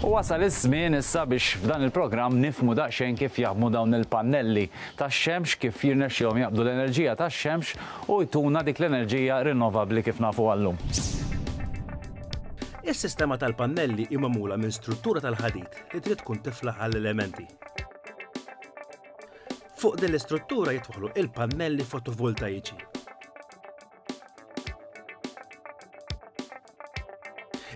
U wasal iż-żmien issa biex f'dan il-programm nifhmu daqsxejn kif jaħdmu dawn il-pannelli tax-xemx, kif jirnexxilhom jaqbdu l-enerġija tax-xemx u jtuna dik l-enerġija rinnovabbli kif nafuha llum. Is-sistema tal-pannelli hi magħmula minn struttura tal-ħadid li trid tkun tiflaħ għall-elementi. Fuq din l-istruttura jitwaħlu il-pannelli fotovoltaiċi.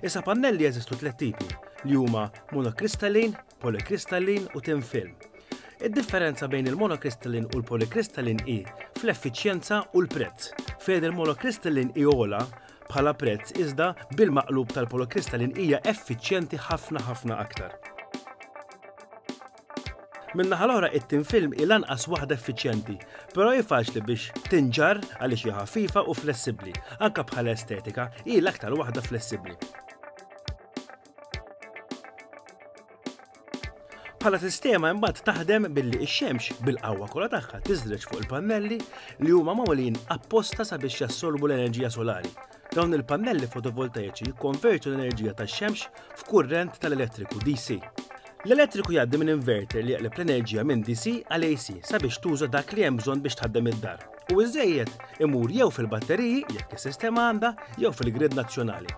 Issa pannelli jeżistu tliet tipi li huma monokristallin, polikristallin u tin film. Id-differenza bejn il-monokristallin u l-polikristallin hi fl-effiċjenza u l-prezz. Fejn il-monokristallin hi ola bħala prezz iżda bil-maqlub tal-polikristallin hija effiċjenti ħafna ħafna aktar. Min-naħa l-oħra it-tin film hi lanqas waħda effiċjenti, però hi faċli biex tinġarr għaliex hi ħafifa u flessibbli. Anke bħala estetika, hi l-aktar waħda flessibbli. Bħala sistema imbagħad taħdem billi x-xemx bil-qawwa kollha tagħha tiżreġ fuq il-pannelli li huma magħmulin apposta sabiex jassorbu l-enerġija solari. Dawn il-pannelli fotovoltaiċi jikkonvertu l-enerġija tax-xemx f'kurrent tal-elettriku DC. L-elettriku jgħaddi minn inverter li jaqleb l-enerġija minn DC għal AC sabiex tuża dak li hemm bżonn biex tħaddem id-dar, u ż-żejjed imur jew fil-batteriji, jekk is-sistema għandha, jew fil-grid nazzjonali.